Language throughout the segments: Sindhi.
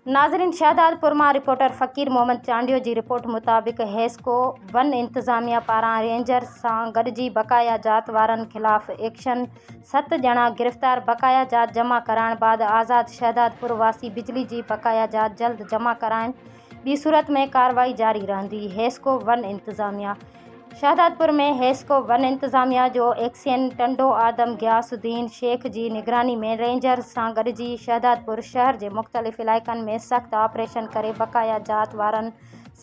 ناظرين شهدادپور مان رپورٽر فقير محمد چانڊيو جي رپورٽ مطابق حيسڪو ون انتظاميا پاران رينجرز سان گڏجي بقايا جات وارن خلاف ايڪشن ست ڄڻا گرفتار بقايا جات جمع ڪرائڻ بعد آزاد شهدادپور واسي بجلي جي بقايا جات جلد جمع ڪرائين ٻي صورت ۾ ڪارروائي جاري رهندي حيسڪو ون انتظاميا شهدادپور ۾ هيسڪو ون انتظاميا جو ايڪسين ٽنڊو آدم غياث الدين شيخ جي نگراني ۾ رينجرز سان گڏجي شهدادپور شهر جي مختلف علائقن ۾ سخت آپريشن ڪري بقايا ذات وارن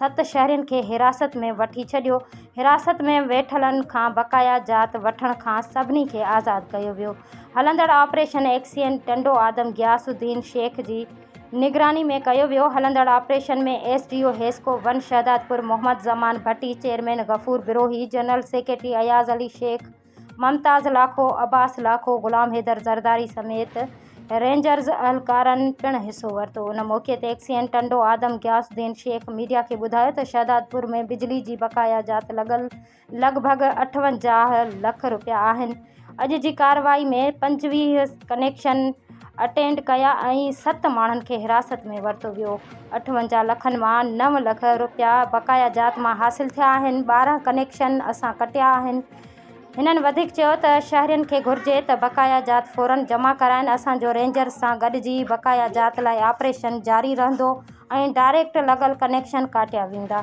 ست شهرين کي حراست ۾ وٺي ڇڏيو حراست ۾ ويٺلن کان بقايا ذات وٺڻ کان سڀني کي آزاد ڪيو ويو هلندڙ آپريشن ايڪسين ٽنڊو آدم غياث الدين شيخ جي نگراني ۾ ڪيو ويو، هلندڙ operation ۾ S D O HESCO one Shahdadpur Muhammad Zaman Bhatti, chairman Ghafoor Brohi, general secretary Ayaz Ali Shaikh, Mumtaz Lakho, Abbas Lakho, Ghulam Haider Zardari سميت رينجرز اهلڪارن پڻ حصو ورتو، ان موقعي تي ايڪس اين ٽنڊو آدم غياث الدين شيخ ميڊيا کي ٻڌايو ته شهدادپور ۾ بجلي جي بقايا جات لڳل لڳ ڀڳ اٺونجاهه لک رپيا آهن. اڄ جي ڪارروائي ۾ پنجويهه ڪنيڪشن اٽينڊ ڪيا ۽ ست ماڻهن کي حراست ۾ ورتو ويو. اٺونجاهه لکن مان نو لک رپيا بقايا جات مان حاصل ٿيا آهن، ٻارهن ڪنيڪشن اسان ڪٽيا آهن. هنن وڌيڪ چيو ته شهرين کي گهرجي ته بقايا جات فورن جمع ڪرائين، اسان جو رينجرز سان گڏجي بقايا جات لاء آپريشن جاري رهندو ۽ ڊائريڪٽ لڳل ڪنيڪشن ڪاٽيا ويندا.